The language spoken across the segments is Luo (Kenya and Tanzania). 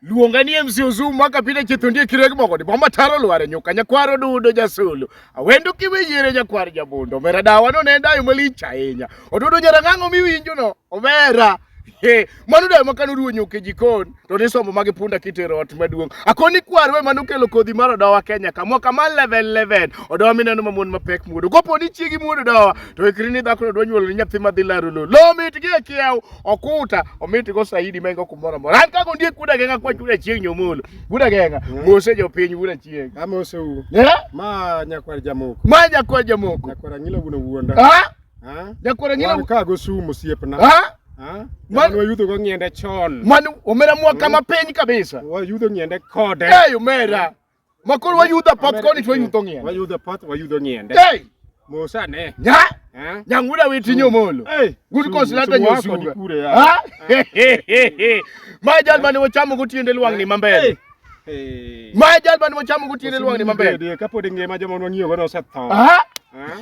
luonga ni MC Ozumu mwaka pile chithundie kireg mogoni bomba taro lware nyuka nyakwaro dudo jasulu awendo kiwe yire nyakwar jabundo omera dawa no ne dayo malich ahinya odudo nyarang'ang'o miwinjo no omera Hey, mano dayo makano ruo nyuka e jikon to nisomo magi punda kitero ot maduong' akoni kwarwe mano kelo kodhi mar odowa Kenya ka mwaka mar level level odowa mineno ma mon mapek muodo kopo ni chiegi muodo odowa to ikri ni dhakono dwa nyuolo ni nyathi madhi laro lo lo mitgi e kiew okuta omiti go saidi mengo kumoro moro an kago ndie kuda genga kwa chuda chieng nyomolo kuda genga mm. mose jo piny kuda chieng amose u eh? ma nyakwar jamoko ma nyakwar jamoko nyakwar angila wuno wuonda ha ha nyakwar angila wan kago sumo siepna ha wayudho go ng'ende chon mano omera mwaka mapiny kabisa wayudho ng'ende kode eyo mera Makoro wayudo apoth koni to wayudo ng'ien. Wayudo apoth wayudo ng'ien. Hey! Musa ne. Nya! Nyang'ura witinyo molo. Good cause lata nyosuga. Ha? Ma jal mane wachamo go tiende lwang' ni mambele. Ma jal mane wachamo go tiende lwang' ni mambele. Kapod ngima joma nwangiyo go no setho. Ha?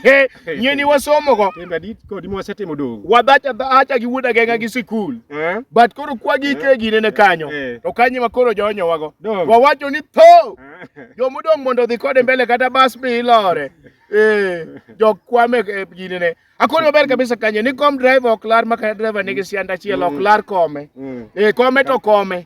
He, nye ni wasomo go. Kenda dit ko di mwase timo dong. Wadhacha dhacha gi wuda genga gi sikul. Eh? But koro kwa gi ke gi ne kanyo. Eh. To kanyi ma koro jonyo wago. Wawacho ni tho. Eh. Jo mudong mondo dhi kode mbele kata bas bi lore. Eh, jo kwame eh, gi ne. Akoni maber kabisa kanyo ni kom driver ok lar maka driver nigi sianda chiel ok mm. lar kome. Mm. Eh, kome to kome.